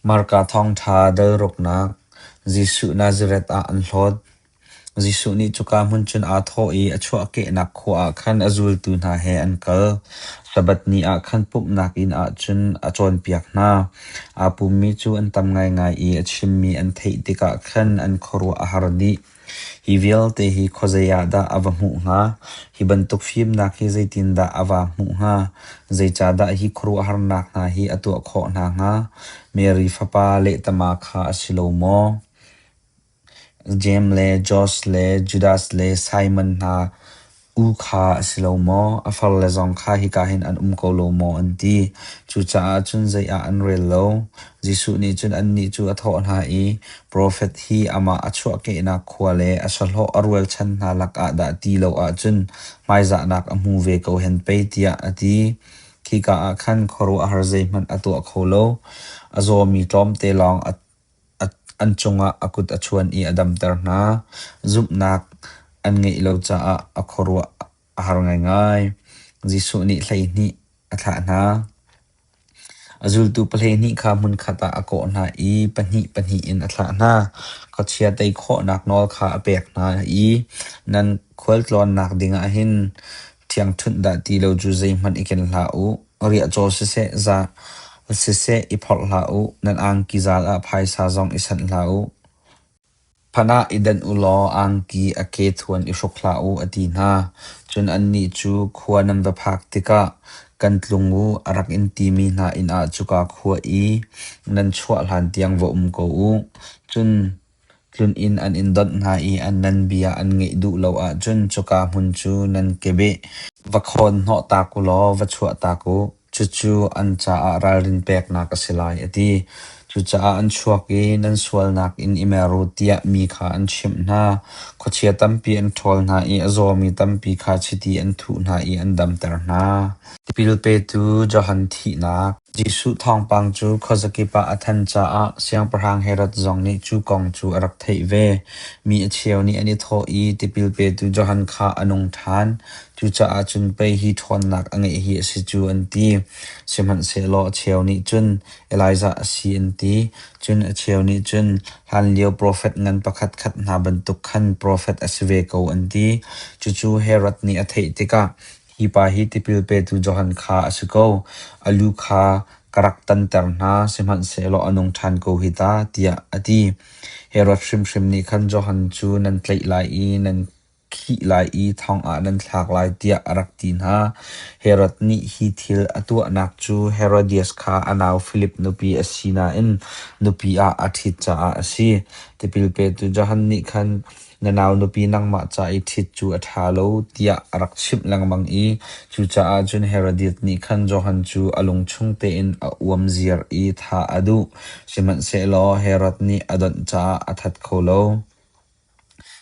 Marka thawngṭha delruknak Jesuh Nazareth ah an hlawt. Jesuh nih cuka hmun cun aa thawh i a chuahkehnak khua ah khan a zultu hna he an kal. Sabbath ni ah khan pumhnak inn ah cun a cawnpiak hna. Aa pummi cu an tam ngaingai i a chimmi an theih tikah khan an khuaruah a har dih. Hi vialte hi khuazei ah dah a va hmuh hnga? Hi bantuk fimnak hi zeitindah a va hmuh hnga? Zeicahdah hi khuaruahharnak hna hi a tuah khawh hna hnga? Mary fapa lehtama kha a si lo maw? Jeim le Josh le Judas le Simon hna U kha a si lo maw? A farle zong kha hika hin an um ko lo maw an ti. Cucaah cun zei ah an rel lo. Jesuh nih cun annih cu a thawh hna i, Profet hi amah a chuahkehnak khua le a sahlawh a rualchan hna lakah dah ti lo ahcun hmaizahnak a hmu ve ko hen pei, tiah a ti. Khika ah khan khuaruahhar zeihmanh a tuah kho lo. A zawmi tlawmte lawng a An cungah a kut a chuan i a damter hna. Zumhnak an ngeih lo caah a khuaruah a har ngaingai. Jesuh nih hleihnih a thlah hna. A zultu pa hleihnih kha hmunkhat ah a kawh hna i pahnih pahnih in a thlah hna. Khuachia tei khawhnak nawl kha a pek hna i nan khualtlawnnak dingah hin thiangṭhunh dah ti lo cu zeihmanh i ken hlah u. Riah caw siseh, za siseh i phorh hlah u. Nan angki zal ah phaisa zong i sanh hlah u. Phan ah i danh u law angki a ke thuan i hruk hlah u, a ti hna. Cun annih cu khua nan va phak tikah kan tlung u, a rak in timi hna inn ah cuka khua i nan chuah hlan tiang va um ko u. Cun Tlun inn an in donh hna i an nan bia an ngaih duh lo ahcun cuka hmun cu nan kebeh va khawn hnawhtak u law va chuahtak u. Cucu an caah ralrin peknak a si lai, a ti. Cucaah an chuak i nan sualnak in i mer u tiah mi kha an chimh hna. Khuachia tampi an ṭhawl hna i a zawmi tampi kha chiti an thuh hna i an damter hna. Tipil petu Johan thihnak Jesuh thawngpang cu khuazakip ah a tthan caah Siangpahrang Herod zong nih cu kong cu a rak theih ve. Mi a cheu nih an i thawh i tipil petu Johan kha a nung ṭhan. Cucaah cun pei hi ṭhawnnak a ngeih hi a si cu an ti. Sihmanhsehlaw a cheu nih cun Elijah a si an ti. Cun a cheu nih cun hlanlio profet ngan pakhatkhat hna bantuk khan profet a si ve ko an ti. Cucu Herod nih a theih tikah Hi pa hi tipil petu Johan kha a si ko. A lu kha ka rak tanter hna, sihmanhsehlaw a nung ṭhan ko hi ta, tiah a ti. Herod hrimhrim nih khan Johan cu nan tlaih lai i nan khih lai i thongah nan thlak lai, tiah a rak ti hna. Herod nih hi thil a tuahnak cu Herodias kha a nau Filip nupi a si nain nupi ah a ṭhit caah a si. Tipil petu Johan nih khan Na nau nupi nangmah ca i ṭhit cu a ṭha lo tiah a rak chimh lengmang i cucaah cun Herodis nih khan Johan cu a lungchung tein a uam ziar i thah a duh. Sihmanhsehlaw Herod nih a donh caah a that kho lo.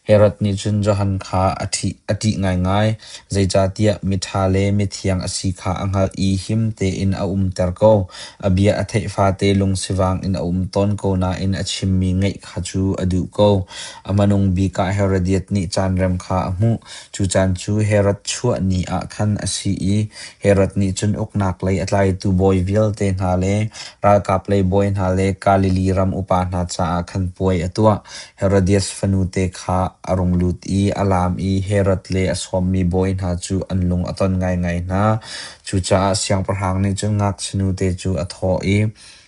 Herod nih cun Johan kha a ṭih a ṭih ngaingai, zeicahtiah miṭha le mithiang a si kha a hngalh i him tein a umter ko. A bia a theih fate lungsivang in a um tawn ko nain a chimmi ngaih kha cu a duh ko. A manung bik ah Herodias nih caanrem kha a hmuh. Cu caan cu Herod chuah ni ah khan a si i Herod nih cun uknak lei a tlaitu bawi vialte hna le ralkap lei bawi hna le Galilee ram upa hna caah khan puai a tuah. Herodias fanute kha a rung lut i a laam i Herod le a sawmmi bawi hna cu an lung a ton ngaingai hna. Cucaah siangpahrang nih cun ngakchianute cu a thawh i,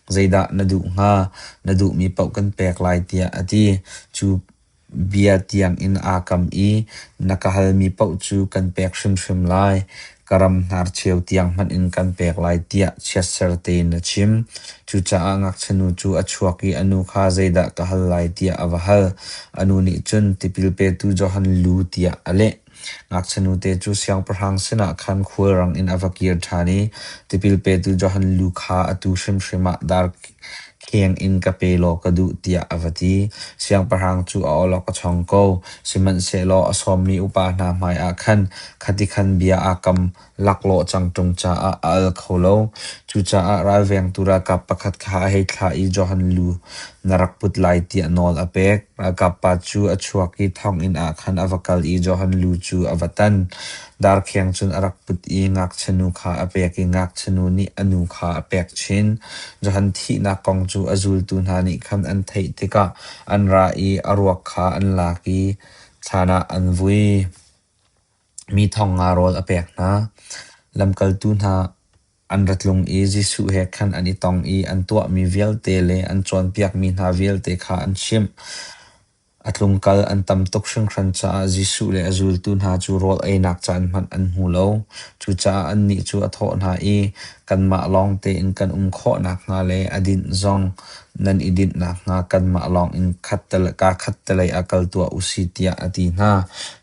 Zeidah na duh hnga? Na duhmi paoh kan pek lai tiah a ti. Cu bia tiangin aa kam i na ka halmi paoh cu kan pek hrimhrim lai. Ka ram hnarcheu tiang hmanh in kan pek lai tiah chiatser tein a chim. Cucaah ngakchinu cu a chuak i a nu kha zeidah ka hal lai tiah a va hal. A nu nih cun tipil petu Johan lu tiah a leh. Ngakchinu te cu siangpahrang sinah khan khulrang in a va kir ṭhan i tipil petu Johan lu kha atu hrimhrim ah darkheng in ka pe law ka duh tiah a va ti. Siangpahrang cu a awlok a chong ko, sihmanhsehlaw a sawmmi upa hna hmaiah khan khati khan bia aa kam. Laklawh cangṭum caah a al kho lo. Cucaah ralvengtu ralkap pakhat kha a hei thlah i Johan lu na rak put lai tiah nawl a pek. Ralkap pa cu a chuak i thonginn ah khan a va kal i Johan lu cu a va tan. Darkheng cun a rak put i ngakchianu kha a pek i ngakchianu nih a nu kha a pek chin. Johan thihnak kong cu a zultu hna nih khan an theih tikah an ra i a ruak kha an lak i thlan ah an vui. Mi thawng nga rawl a pek hna. Lamkaltu hna an ra tlung i Jesuh he khan an i tong i an tuahmi vialte le an cawnpiakmi hna vialte kha an chimh. A tlungkal an tam tuk hringhran caah Jesuh le a zultu hna cu rawl einak caan hmanh an hmu lo. Cucaah annih cu a thawh hna i, Kanmah lawng tein kan um khawh nakhnga le a dinh zong nan i dinh nakhnga kanmah lawng in kaa khattelei ah kal tuah u si, tiah a ti hna.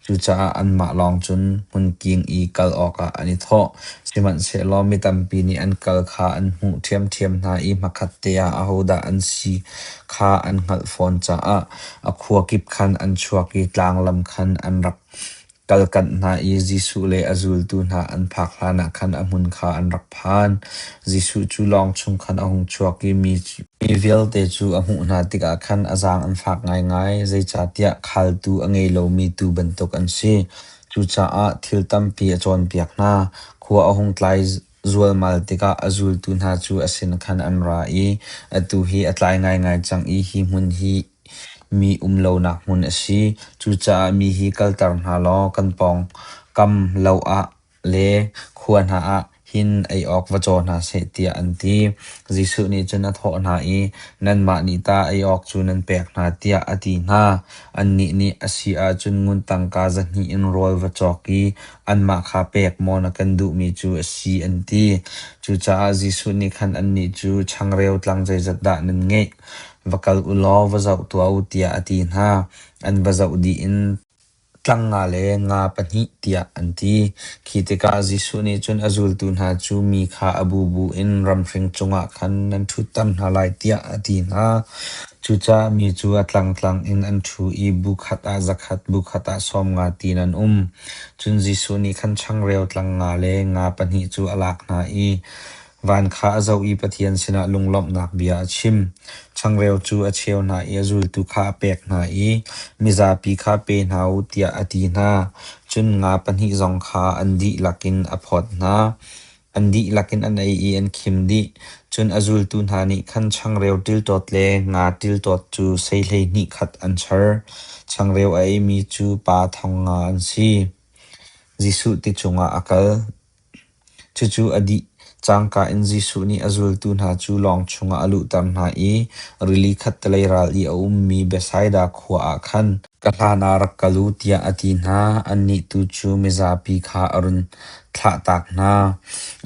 Cucaah anmah lawng cun hmunking i kal awkah an i thawh, sihmanhsehlaw mi tampi nih an kal kha an hmuh ṭhiamṭhiam hna i hmakhatte ah ahodah an si kha an hngalh fawn caah a khua kip khan an chuak i tlang lam khan an rak kalkanh hna i Jesuh le a zultu hna an phak hlanah khan a hmun kha an rak phan. Jesuh cu lawng chung khan a hung chuak i mi vialte cu a hmuh hna tikah khan a zaang an fak ngaingai, zeicahtiah khaaltu a ngei lomi tuu bantuk an si. Cucaah thil tampi a cawnpiak hna. Khua a hung tlai zualmal tikah a zultu hna cu a sin khan an ra i, Atu hi a tlai ngaingai cang i hi hmun hi mi um lonak hmun a si. Cucaah mi hi kalter hna law kan pawngkam lo ah Le khua hna ah hin ei awk va caw hna seh tiah an ti. Jesuh nih cun a thawh hna i, Nanmah nih tah ei awk cu nan pek hna tiah a ti hna. Annih nih a si ahcun ngun tangka za hnih in rawl va cawk i anmah kha pek maw na kan duhmi cu a si an ti. Cucaah Jesuh nih khan annih cu changreu tlang zeizat dah nan ngeih? Va kal u law va zoh tuah u tiah a ti hna. An va zoh dih in Tlang nga le nga pahnih tiah an ti. Khi tikah Jesuh nih cun a zultu hna cu mi kha a bubu in ramhring cungah khan nan ṭhutter hna lai tiah a ti hna. Cucaah mi cu a tlangtlang in an ṭhu i bu khat ah zakhat bu khat ah sawm nga tin an um. Cun Jesuh nih khan changreu tlang nga le nga pahnih cu a lak hna i Van kha a zoh i Pathian sinah lunglawmhnak bia a chim. Changreu cu a cheu hna i a zultu kha a pek hna i mizapi kha pe hna u tiah a ti hna. Cun nga pahnih zong kha an dihlak in a phawt hna. An dihlak in an ei i an khim dih. Cun a zultu hna nih khan changreu tiltawt le nga tiltawt cu sei hleihnih khat an char. Changreu a eimi cu pa thong nga an si. Jesuh ti cungah a kal. Cucu a dih cangka in Jesuh nih a zultu hna cu lawng chungah a luhter hna i rili khattelei ral i a ummi Bethsaida khua ah khan, “Ka hlanah rak kal u,” tiah a ti hna. Annih tu cu mizapi kha a run thlahtak hna.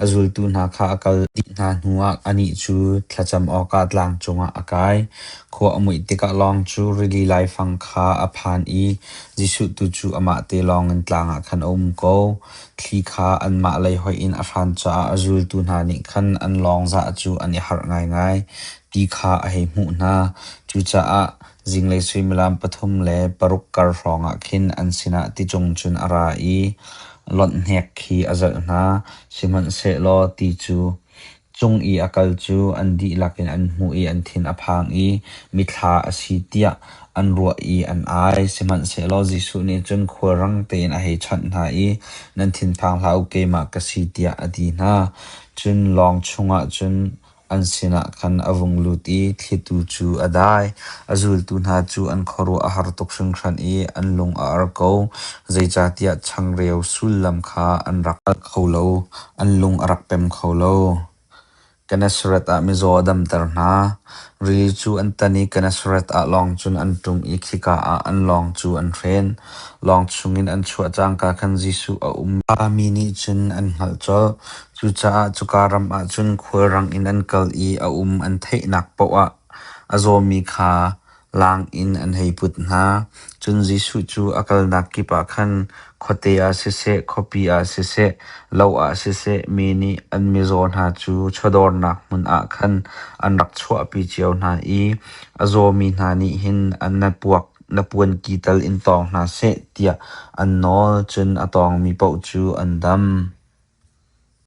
A zultu hna kha a kal dih hna hnuah anih cu thlacam awkah tlang cungah a kai. Khua a muih tikah lawng cu rili laifang kha a phan i Jesuh tu cu amah te lawngin tlang ah khan a um ko. Thli kha anmah lei hoih in a hran caah zultu hna nih khan an lawngzah cu an i harh ngaingai ti kha a hei hmuh hna. Cucaah zinglei suimilam pathum le paruk kar hrawngah khin an sinah ticung cun a ra i lonh hnek khi a zelh hna, sihmanhsehlaw ti cu Cung i a kal cu an dihlak in an hmuh i an thin a phang i mithla a si tiah an ruah i an ai. Sihmanhsehlaw Jesuh nih cun khulrang tein a hei chawnh hna i, Nan thinphang hlah u, keimah ka si tiah a ti hna. Cun lawng chungah cun an sinah khan a vung lut i thlitu cu a dai. A zultu hna cu an khuaruah a har tuk hringhran i an lung a ar ko, zeicahtiah changreu sullam kha an rak hngalh kho lo. An lung a rak pem kho lo. Gennesaret ah mizaw a damter hna. Rili cu an tan i Gennesaret ah lawng cun an ṭum i khika ah an lawng cu an hren. Lawng chungin an chuah cangka khan Jesuh a um. Mi nih cun an hngalh colh. Cucaah cuka ram ah cun khulrang in an kal i a um an theihnak paoh ah a zawmi kha Laang in an hei put hna. Cun Jesuh cu a kalnak kip ah khan khuate ah siseh, khuapi ah siseh, lo ah siseh mi nih an mizaw hna cu chawdawrnak hmun ah khan an rak chuahpi cio hna i a zawmi hna nih hin an na puak na puanki tal in tawng hna seh tiah an nawl, cun a tawngmi paoh cu an dam.